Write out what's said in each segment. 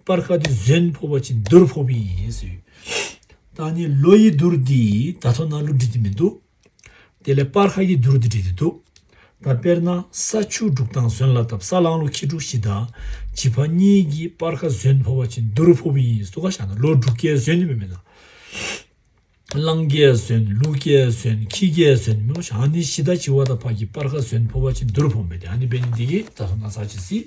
སྤར་ཁ་དེ་གཟོན་ཕོ་བ་ཅིག་འདུར་ཕོ་བས་ཡིན་ཟེར། ད་ནི་ལོ་ཡི་འདུར་འདིས་ད་ཐོ་ན་ལུ་འབྲི་དེ་མི་འདུག། དེ་ལས་སྤར་ཁ་ཡི་འདུར་འདི་འབྲི་དེ་འདུག། ད་དཔེར་ན་ས་ཆུ་འབྲུག་དང་གཟོན་ལ་དབ་ས་གླང་ལོ་ཁྱི་འབྲུག་བཞི་དང་བྱི་ཕ་གཉིས་ཀྱིས་སྤར་ཁ་གཟོན་ཕོ་བ་ཅིག་འདུར་ཕོ་བས་ཡིན་ཟུ་ག་བཞག་ན་ལོ་འབྲུག་སྐལ་གཟོན་ནི་མི་མེད་ན། གླང་སྐལ་གཟོན་ལུ་སྐལ་གཟོན་ཁྱི་སྐལ་གཟོན་ནི་མི་མོད་ཨ་ནི་བྱི་དང་བྱི་བ་དང་ཕ་གིས་སྤར་ཁ་གཟོན་ཕོ་བ་ཅིག་འདུར་ཕོ་མེད་དེ་ཨ་ནི་བས་ནི་འདི་གིས་ད་ཐོ་ན་ཟ་བྱེད་སྲིད།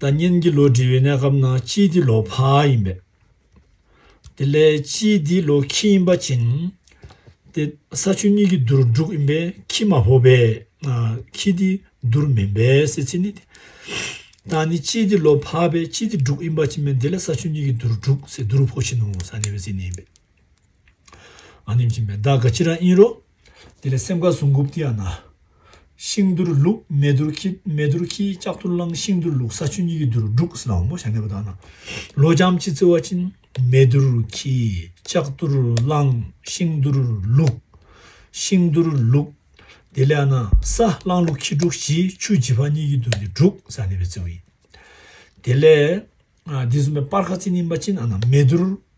ད་ཉིན་གྱི་ལོ་དྲི་བའི་གནས་སྐབས་ནང་སྤྱི་དེ་ལོ་ཕག་ཡིན་པས། དེ་ལས་སྤྱི་དེ་ལོ་ཁྱི་ཡིན་པ་བྱིན། དེ་ས་ཆུ་གཉིས་ཀྱི་དུར་འབྲུག་ཡིན་པས་ཁྱི་མ་ཕོ་བས། ཁྱི་དེ་དུར་མིན་པས་ཟེར་ཚིག་ནི། ད་ནི་སྤྱི་དེ་ལོ་ཕག་པས་སྤྱི་དེ་འབྲུག་ཡིན་པ་བྱིན་པས་དེ་ལས་ས་ཆུ་གཉིས་ཀྱི་དུར་འབྲུག་ཟེར་དུར་ཕོ་བྱིན་ནོ་ས་ནི་བའི་ཚིག་ནི་ཡིན་པས། ཨ་ནེམ་ཤིང་མེ་དག་ག་ཅི་ར་ཨིན་རོ། དེ་ལས་སེམས་དགའ་ཟུང་འགུགས་ཏི་ཡ་ན། ཤིང་དུར་བླུགས་མེ་དུར་ཁྱི་མེ་དུར་ཁྱིའི་ལྕགས་ཐུར་བླངས་ཤིང་དུར་བླུགས་ས་ཆུ་གཉིས་ཀྱི་དུར་འབྲུག་སི་ན་འོང་བོ་ཞག་གནས་པ་དག་ན། ལོ་འབྱམས་ཅི་བརྩི་བ་ཅིན། མེ་དུར་ཁྱིའི་ལྕགས་ཐུར་བླངས་ཤིང་དུར་བླུགས། ཤིང་དུར་བླུགས། དེ་ལས་ཨ་ན་ས་བླངས་བླུགས་ཁྱི་འབྲུག་བཞི་ཆུ་བརྗི་བ་གཉིས་ཀྱི་དུར་གྱི་འབྲུག་སི་ན་གནས་པའི་བརྩི་བ་ཡིན། དེ་ལས། དེ་གསུམ་པའི་སྤར་ཁ་བརྩི་ནི་མ་ཅིན་ཨ་ན་མེ་དུར་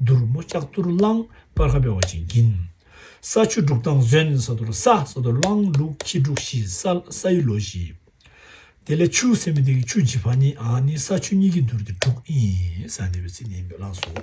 དུར་སྨོ་ལྕགས་གཏོར་གླང་སྤར་ཁ་བེ་བ་ཅན་གྱིན། ས་ཆུ་འབྲུག་ཐང་གཟོན་ས་དོར་ས་ས་དོར་གླང་འབྲུག་ཁྱི་འབྲུག་བཞི་ས་ས་ཡི་ལོ་བཞི། དེ་ལས་ཆུ་སེ་མི་ཏི་ཀི་ཆུ་བྱི་བྷ་ནི་ཨ་ནི་ས་ཆུ་གཉིས་ཀྱི་འདུར་ཏི་འབྲུག་ཨིན་ས་འདི་བའི་ཚིག་ནི་ཡིན་པས་བླངས་སོ།